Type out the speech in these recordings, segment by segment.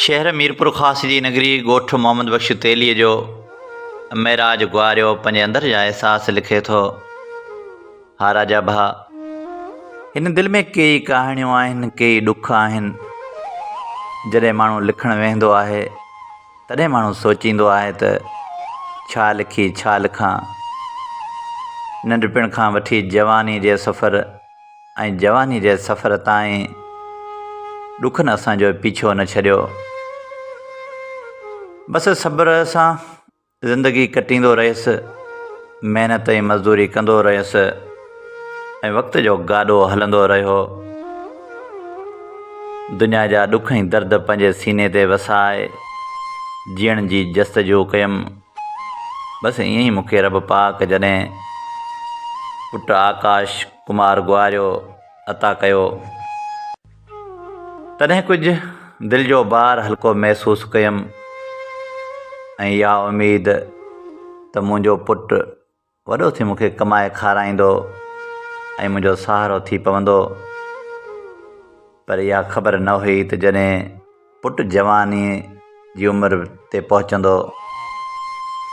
شهر ميرپورخاص جي نگري ڳوٺ محمد بخش تيليء جو معراج گواريو پنهنجي اندر جا احساس لکي ٿو ها راجا ڀا هن دل ۾ ڪيئي ڪهاڻيون آهن ڪيئي ڏک آهن جڏهن ماڻهو لکڻ ويهندو آهي تڏهن ماڻهو سوچيندو آهي ته ڇا لکي ڇا لکان؟ ننڍپڻ کان وٺي جواني جي سفر ۽ جواني جي سفر تائين ڏکن اسان جو پيڇو نه ڇڏيو. بس صبر سان زندگي ڪٽيندو رهيس، محنت ۽ مزدوري ڪندو رهيس. ۽ وقت جو گاڏو هلندو رهيو. دنيا جا ڏک ۽ درد پنهنجي سيني تي وسائي جيئڻ جي جستجو ڪيم. بس ائين ئي مونکي رب پاڪ جڏهن پٽ آڪاش ڪمار گواريو عطا ڪيو تڏهن ڪجهه دل جو بار هلڪو محسوس ڪيم ۽ اها اميد ته منهنجو پٽ وڏو ٿي مون کي ڪمائي کارائيندو ۽ منهنجو سهارو ٿي پوندو. پر اها خبر نه هئي ته جڏهن پٽ جوانيء جي عمر تي پهچندو،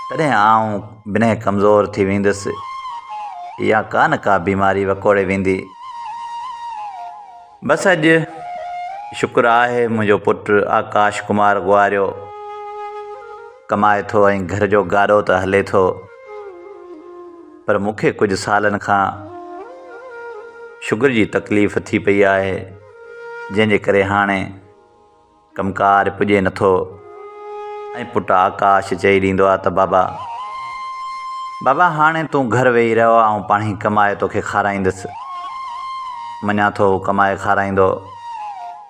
تڏهن آئون بنهه ڪمزور ٿي وينديس يا ڪا نه ڪا بيماري وڪوڙي ويندي. بس اڄ شڪر آهي منهنجو پٽ آڪاش ڪمار غواريو ڪمائي ٿو ۽ گهر جو گاڏو ته هلي ٿو. پر مون کي ڪجهه سالن کان شگر جي تڪليف ٿي پئي آهي جنهن جي ڪري هاڻي ڪم ڪار پڄي نٿو ۽ پٽ آڪاش چئي ڏيندو آهي ته بابا بابا هاڻي تون گهر ويهي رهو آئون پاڻهي ڪمائي توکي کارائيندس مڃان ٿو هو ڪمائي کارائيندو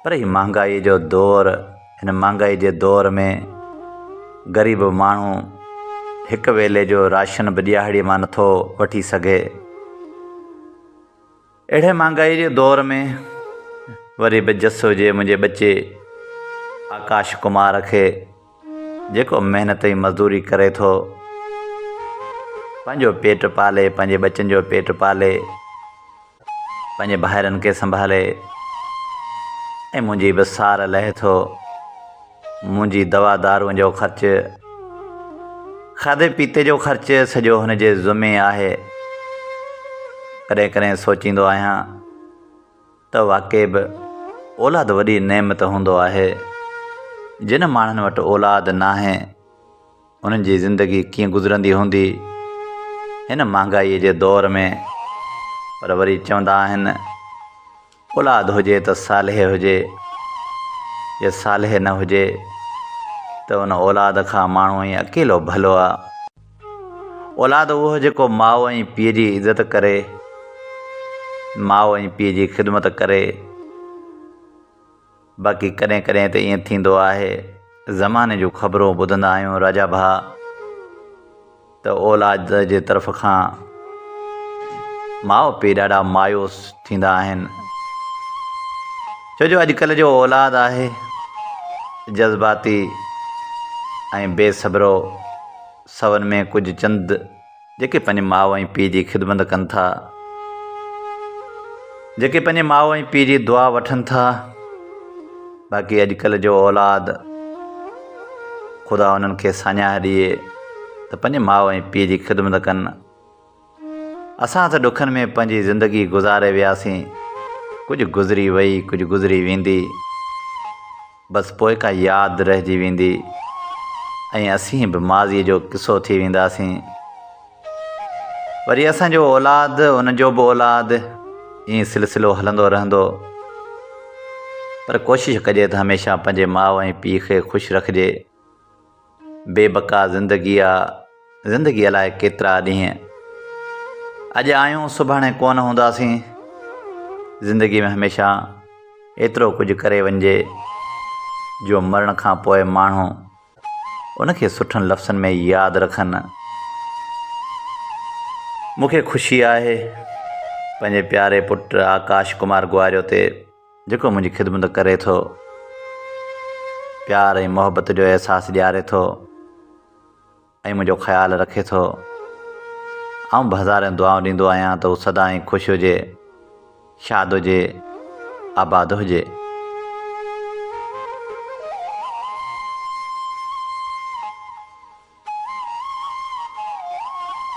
پر هي مهانگائي جو دور هن مهانگائي جي دور ۾ غريب ماڻهو هڪ ويلي جو راشن به ڏيهاڙي مان نٿو وٺي سگهي. اهڙي مهانگائي جي دور ۾ وري به جس هجي منهنجي ٻچي آڪاش ڪمار کي جيڪو محنت ۽ مزدوري ڪري ٿو پنهنجو پيٽ پالي پنهنجي ٻچن جو پيٽ پالي. پنهنجي ڀائرن کي سنڀالي ۽ منهنجي به سار لهي ٿو منهنجي دوا دارون جو خرچ کاڌي پيتي جو خرچ سڄو هن جي ذمي آهي ڪڏهن ڪڏهن سوچيندو آهيان ته واقعي به اولاد وڏي نعمت هوندو آهي جن ماڻهن وٽ اولاد ناهي انهن جي زندگي ڪيئن گذرندي هوندي هن مهانگائيء جي دور ۾؟ پر وري چوندا آهن اولاد هجي ته صالح هجي، جي صالح نه هجي ته ان اولاد کان ماڻهو ائين اڪيلو ڀلو آ. اولاد اهو جيڪو ماء ۽ پيء جي عزت ڪري، ماء ۽ پيء جي خدمت ڪري. باقي ڪڏهن ڪڏهن ته ائين ٿيندو آهي زماني جون خبرون ٻڌندا آهيون راجا ڀاء ته اولاد جي طرف کان ماء پيء ڏاڍا مايوس ٿيندا آهن ڇو جو اڄڪلهه جو اولاد آهي جذباتي ۽ بي صبرو سون ۾ ڪجهه چند جيڪي پنهنجي ماء ۽ پيء جي خدمت ڪن ٿا، جيڪي پنهنجي ماء ۽ پيء جي دعا وٺن ٿا، باقي اڄڪلهه جو اولاد خدا انهن کي ساڃاهه ڏئي ته پنهنجي ماء ۽ پيء جي خدمت ڪن. اسان ته ڏکن ۾ پنهنجي زندگي گذاري وياسين، ڪجهه گذري وئي، ڪجهه گذري ويندي، بس پوء ڪا ياد رهجي ويندي ۽ اسين به ماضيء جو قصو ٿي وينداسين. وري اسان جو اولاد، ان جو به اولاد، ائين سلسلو هلندو رهندو. پر ڪوشش ڪجي ته هميشه پنهنجي ماء ۽ پيء کي خوش رکجي. بي بقا زندگي آ، زندگي الاء ڪيترا ڏينهن، اڄ آهيون سڀاڻي ڪونه هونداسين، زندگي ۾ هميشه ايترو ڪجهه ڪري وڃجي جو مرڻ کان پوء ماڻهو ان کي سٺن لفظن ۾ ياد رکن. مون کي خوشي آهي پنهنجي پياري پٽ آڪاش ڪمار گواريو تي جيڪو منهنجي خدمت ڪري ٿو، پيار ۽ محبت جو احساس ڏياري ٿو ۽ منهنجو خيال رکي ٿو. آئون به هزارين دعائون ڏيندو آهيان ته هو سدائين خوش هجي، شاد هجي، آباد هجي.